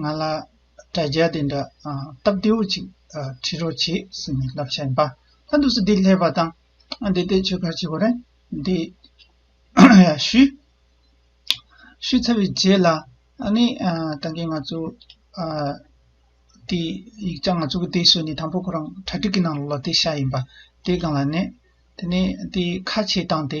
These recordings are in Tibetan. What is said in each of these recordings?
ང་ལ་དྲ་རྒྱ་དེ་འདྲ་སྟབས་བདེ་བོ་ཅིག་ཁྲིད་རོགས་བྱེད་ཟེར་ནས་ལབ་བྱ་ཡིན་པ་ལྷ་འདུག་སེ་འདི་ལྷས་པ་དང་འདི་ལྟའི་ཆོས་སྒར་བྱེད་དགོས་རེད་འདི་ཞུས། ཞུས་ཚར་བའི་རྗེས་ལ་ནི་ད་གིན་ང་ཚོ་དེ་ཡིག་ཆ་ང་ཚོ་གི་དེ་བཟོས་ནས་དང་པོ་ཁོ་རང་གྲ་སྒྲིག་གི་ནང་ལོག་ལ་དེ་བཞག་ཡིན་པ་དེ་གང་ལ་ནི་དེ་ནི་དེ་ཁ་ཕྱེས་སྟངས་དེ་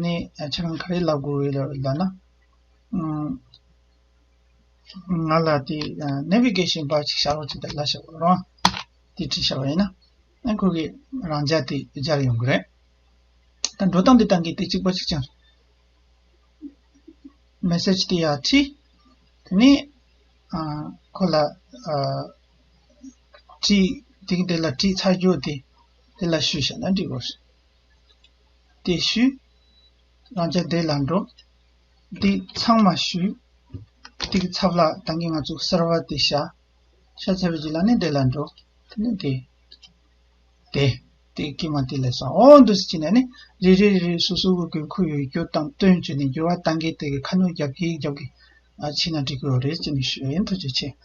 ནས་ཕྱི་རང་ག་རེ་ལབ་དགོས་ཡོད་ལ་ན། ང་ལ་དེ Navigation པར་ཅིག་བྱ་རོགས་ཅིག་དང་ལ་ཞེས་བ་རང་དེ་ཅིག་བྱ་བ་ཡིན་ན་ཁོ་གིས་རང་འཇགས་དེ་སྦྱར་ཡོང་གི་རེད། ད་འགྲོ་སྟངས་འདི་དང་གི་དེ་ཅིག་པ་ཅིག་ཅིག Message དེ་ཡར་ཕྲི། དེ་ནས་ཁོ་ལ་ཕྲི། དེ་གི་དེ་ལ་ཕྲི་ཚར་རྒྱུ་དེ་དེ་ལ་ཞུས་བྱས་ན་འགྲིག་དགོས། བདེ་ཞུས། རང་ཅག་བདེ་ལ་འགྲོ། འདི་ཚང་མ་ཞུས། འདི་གི་ཚབ་ལ་བདག་གིས་ང་ཚོ་གསར་བ་འདི་བཞག། ཤ་ཚ་བའི་རྗེས་ལ་ནི་བདེ་ལ་འགྲོ། དེ་ནི་དེ། དེ། དེ་སྐད་མ་དེ་ལས་སོ་ཨོ་འདུ་སེ་བྱས་ནས་ནི་རེ་རེ་རེ་རེ་སོ་སོ་གི་དགོས་མཁོ་ཡོད་རྒྱུ་དང་བསྟུན་བྱས་ནས་འགྱུར་བ་གཏང་གིན་དེ་གི་ཁ་སྣོན་རྒྱབ་གིན་རྒྱབ་གིན་ཕྱིན་ན་འགྲིག་གི་རེད་ཅེས་ནི་ཞུས་ཡིན་ཐུགས་རྗེ་ཆེ།